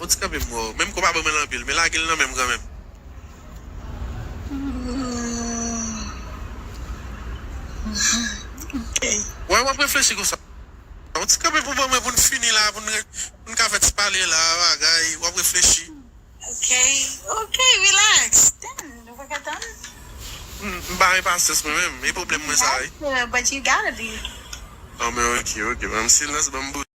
Bon ti kanpe m wè w. Menm ke w pa ban mwen l anpil, men lage l nan men m kanmenm. Why wap reflechi konsa. Bon ti kanpe pou ban mwen pou n fini la, pou n ka fè ti pale la, bagay, wap reflechi. Ok, ok, relax. Damn, nou pa ka tann? M pa enpasyans mwen menm, e pwoblèm mwen sa wi. But you gotta be. An men ok, ok, ban m silans, ban m bouch.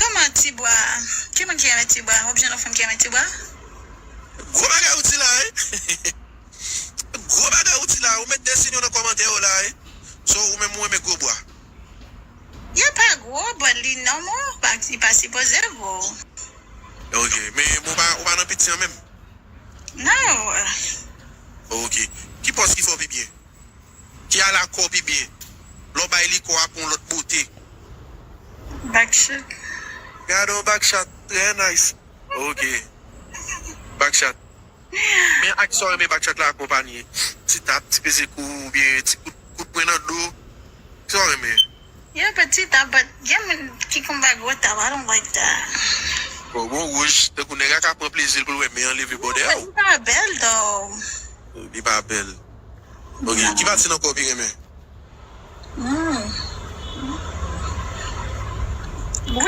Kman ti bwa ki moun ki renmen ti bwa wap jwenn yon fanm ki renmen ti bwa. Gwo bagay ou di la wi Gwo bagay ou di la ou met de sin yo nan kòmantè yo la wi So ou menm ou renmen gwo bwa. Yo pa gwo but li normal but li pa sipoze gwo. Ok men ou pa ou pa nan piti an menm. Non. Ok ki pòs ki fè w pi byen. Ki a la kò pi byen. Lè w bay li kò a pran yon lòt bote. Backshot. Gade yon backshot trè nice. Ok. Backshot. Men ak sa w renmen backshot la akonpanye. Ti tap, ti peze kou ou byen ti kout kout pwen nan do. Ki sa w renmen? Yon peu ti tap but gen moun ki konn bay gwo tap I don't like that. Bon wouj tankou nèg a ka pran plezi l pou l wè men an leve bòdè w. Li pa bèl though. Li pa bèl ok. Ki pati nan kò w pi renmen? M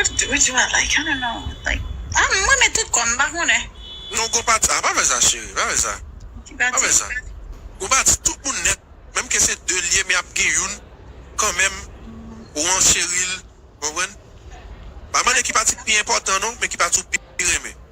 renmen tout kò m, m pa konnen. Non gon pati, ah pa fè sa cheri, pa fè sa. Pa fè sa. Gon pati tout moun nèt, menm ke se 2 l ye men ap gen youn kanmenm ou an cheri l, konprann? Pa mande ki pati ki pi enpòtan non, men ki pati ou pi renmen.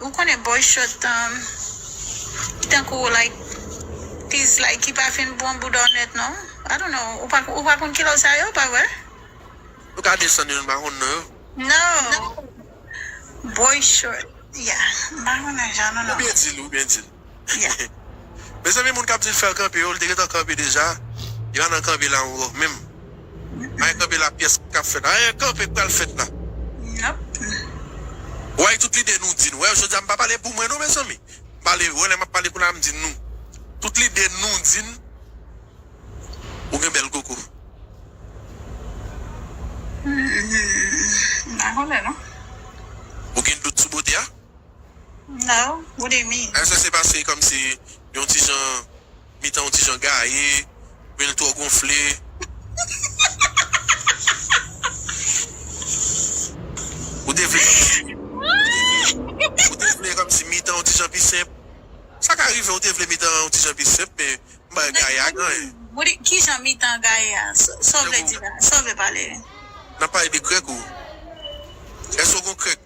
Ou konnen boy shot an ki tankou like piece like ki pa fin bon bouda w nèt non I don't know ou pa ou pa konn kilò sa yo pa vre? Nou ka desann yo nou pa konn non yo. No boy short yeah m pa konnen jan nou non. Ou byen dil ou byen dil. Mezanmi moun kap dil fer kanpe yo li te gentan kanpe deja li pa nan kanpe la ankò menm maye kanpe la pyès kap fèt la eeh kanpe k pral fèt la way tout lide nou di nou wè jodia m pa pale pou mwen non mezanmi m pale wè lè map pale kounye a m di nou tout lide nou di n ou gen bèl koko ou gen dout sou bote a. Now what they mean? Èske se paske kòmsi yon ti jan mitan yon ti jan gaye oubyen li twò gonfle? Ou te vle kòmsi ou te vle ou te vle kòmsi mitan yon ti jan pi senp? Sa ka rive ou te vle mitan an yon ti jan pi senp men m bay gaye a ganyen. What do ki jan mitan gaye a? Sa w vle di la? Sa w vle pale? N ap pale de krèk ou. Èske w gen yon krèk?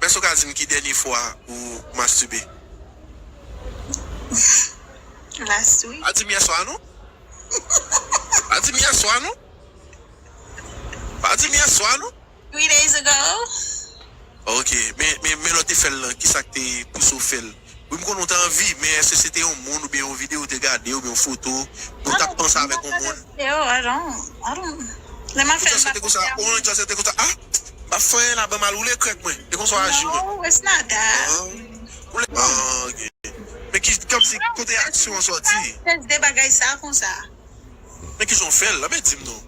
Mès ou ka dim ki dènye fwa ou mastube? Mmm last week. Pa dim yèswa non. Pa dim yèswa non. Pa dim yèswa non. Three days ago. Ok men lè ou te fèl lan kisak te pouse ou fèl? Wi m konnen w t anvi, men èske se te yon moun oubyen yon videyo w te gade oubyen yon foto oubyen w t ap panse avèk yon moun? Ou just rete konsa ou an just rete konsa ah m pa fanyen la ban m al woule krèk mwen e konsa w aji mwen ah ok men ki kòm si kote aksyon an sòti men kijan w fè l la men di m non.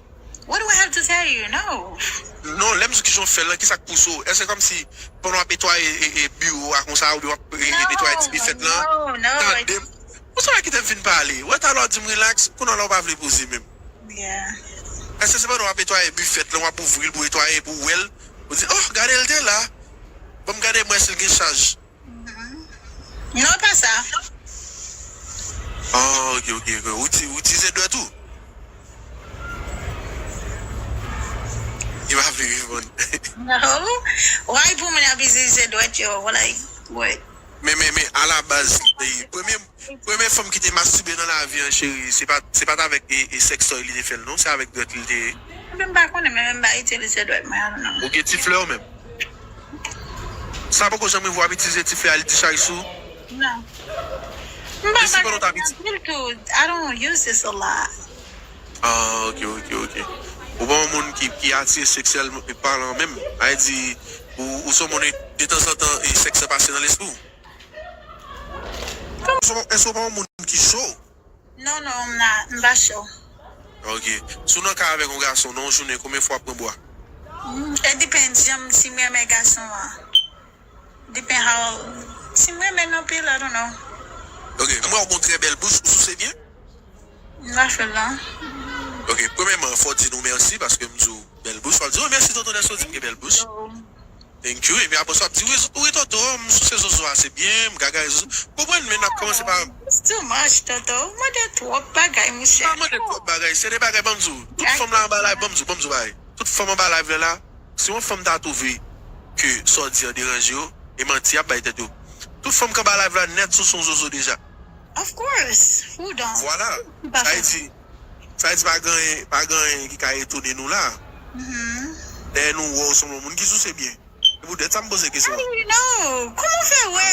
What do I have to tell you no. Non lèm di w kijan w fèl lan kisak pouse w èske se kòmsi pandan wap etwaye e biwo a konsa oubyen wap e netwaye ti bifèt lan non non tande m ou sa wè kite m fin pale wè talè w di m rilaks kounya la w pa vle poze menm yeah èske se pandan wap etwaye bifèt lan wap ouvri l pou w etwaye epi w wèl ou di oh gade l te la banm gade m wè si l gen chaj. Non pa sa. Oh ok ok ok ou ti ou ti se dwèt ou? Li pa vle reponn. Oh why pou moun ap itilize dwèt yo like word. Men men men a la baz se premye Premye fanm ki te mastube nan lavi an cheri se pat se pat avèk e sextoy li te fèl non se avèk dwèt li te ye. Mwen menm pa konnen mwen menm m pa itilize dwèt mwen al non. Ou gen ti flè ou menm. Sa poko janm rive wap itilize ti flè al ti chay sou. Non. M pa pale ak moun anpil tou I don't use this a lot. Ah ok ok ok ou pa yon moun ki ki atire seksyèlman palan menm, sa vle di ou ou son moun e detanzantan e sèks lan pase nan lespriw. Gason èske w pa yon moun ki cho? Non non m pa cho. Ok. Si w nan kay avèk yon gason nan yon jounen konbyen fwa w ap pran bwa? It depends janm si m renmen gason an. Depend how si m renmen l anpil I don't know. Ok. M wè w gen yon trè bèl bouch, ou souse byen? M pa fè l non. Ok. Premyèman fò w di nou mèsi paske m di w bèl bouch. Wap di w mèsi tonton Nèso di m gen bèl bouch. Thank you epi apresa wap di wi wi toto m souse zozo ase byen m gagay zozo m konprann men nap komanse pa It's too much toto ou mande twop bagay m monchè. pa mande twop bagay se de bagay banm diw tout fanm la anba live banm diw banm diw bagay tout fanm anba live la si yon fanm ta twouve ke sa w di an deranje yo e manti yap bay tèt yo tout fanm k anba live la nèt souse w zozo deja. Of course who don't? Vwala sa vle di Sa vle di pa gen anyen, pa gen anyen ki ka etone nou la. Dèyè nou wè ou sanble yon moun ki souse byen. Se pou tèt sa m poze kesyon an. How do you know? Kouman w fè wè?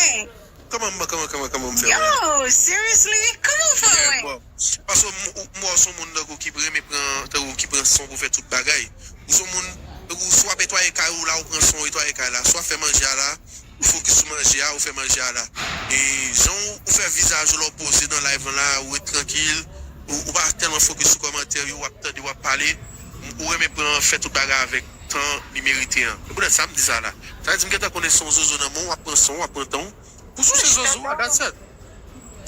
Kman m, kman, kman, kman m fè wè? Yo, seriously? Kman w fè wè? Bon, paske m wè w son moun tankou ki renmen pran, tankou ki pran son pou fè tout bagay. Ou son moun, tankou si w ap etwaye kay ou la ou pran son ou etwaye kay la. Si w ap fè manje a la. Ou fokis sou manje a ou fè manje a la e jan ou fè vizaj ou la ou poze nan live lan la ou ret trankil ou pa tèlman fokis sou kòmantè yo wap tande wap pale ou renmen pran an fè tout bagay avèk tan li merite an se poutèt sa m di sa la sa vle di m gentan konnen son zozo nan men w wap pran san w wap pran tan w pou souse zozo a that's it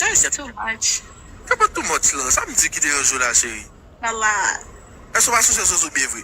Guy se too much. Se pa too much lan sa m di ki deranje w la cheri Eske w pa souse zozo byen vre.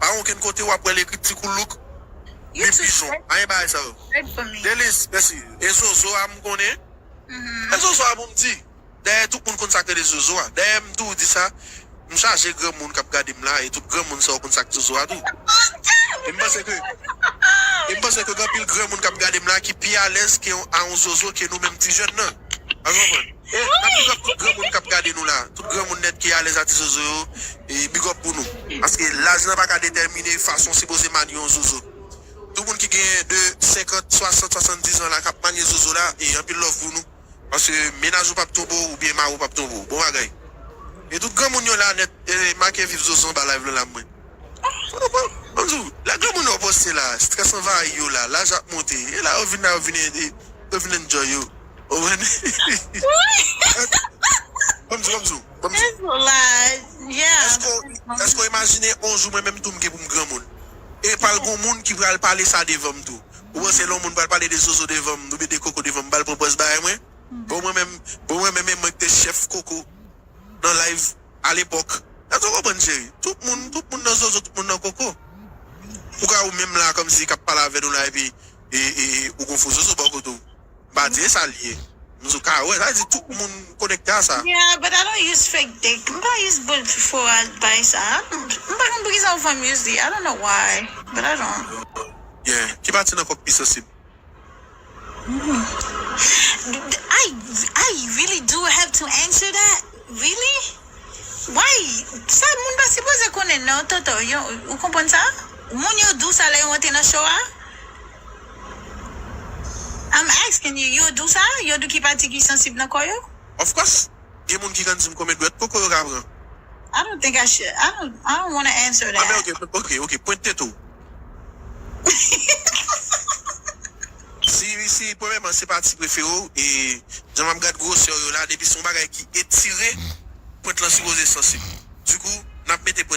Pa gen okenn kote wap wè l ekri tikoulouk ni pijon. Pa gen bagay sa yo. Deniz, mèsi. E zozo a m konnen. E zozo a pou m di. Dayè tout moun konn sa k rele zozo a. Dayè m tou di sa, m chaje granmoun k ap gade m la e tout granmoun sa yo konn sa k zozo a tou. E m panse ke E m panse ke gen anpil granmoun k ap gade m la ki pi alèz ke a yon zozo ke nou menm ti jèn nan. Al konprann. E na big up tout granmoun kap gade nou la. Tout granmoun net ki alez a ti zozo yo e big up pou nou. Paske laj lan paka detèmine fason sipoze manye yon zozo. Tout moun ki gen de 50, 60, 70 ans la kap manye zozo la e anpil love pou nou. Paske menaj ou pap tonbe w oubyen mari w pap tonbe w. Bon bagay. E tout granmoun yo la net e make viv zozo anba live lan la mwen. Bon bon, m di w, lè granmoun yo panse la, strès anvayi yo la, laj ap monte, e la yo vin la yo vin e, yo vin enjoy yo. Ou konprann? Bon m di w, bon m di w, bon m di w. Strès ou laj, yeah. Èske w, èske w imajine on jou mwen menm tou m gen pou m granmoun? E pa l gon moun ki pral pale sa devan m tou. Ou panse lè on moun pral pale de zozo devan m, oubyen de koko devan m, m pa l pran pòz bagay mwen? Bon mwen menm, bon mwen menm e mwen k te chèf koko nan live. a lepòk. Èske w konprann cheri? Tout moun, tout moun nan zozo, tout moun nan koko. Ou ka ou menm la kòmsi k ap pale avè nou la epi ou gon fo zozo bò kote w. M pa di e sa l ye. M di w ka wè. Sa vle di tout moun konekte a sa. Yeah, but I don't use fake dick. M pa use boul fo a bay sa. M pa konn poukisa ou fè m use li. I don't know why, but I don't. Yeah. Ki pati nan kò w k pi sansib? I I really do have to answer that? Really? Why? Sa moun pa sipoze konnen non Toto, yo, ou konprann sa? Moun yo dou sa lè yo antre nan show a? I'm asking you, yo dou sa? Yo dou ki pati ki sansib nan kò yo? Of course, gen moun ki konn di m konbyen dwèt koko yo ka pran. I don't think I should, I don't, I don't wanna answer that. Anben ok, ok, ok, pwente tete w. Si si premyèman se pati prefere w e jan map gad gwosè w yo la depi se yon bagay ki etire pwent lan sipoze sansib. Dikou nap mete pwent.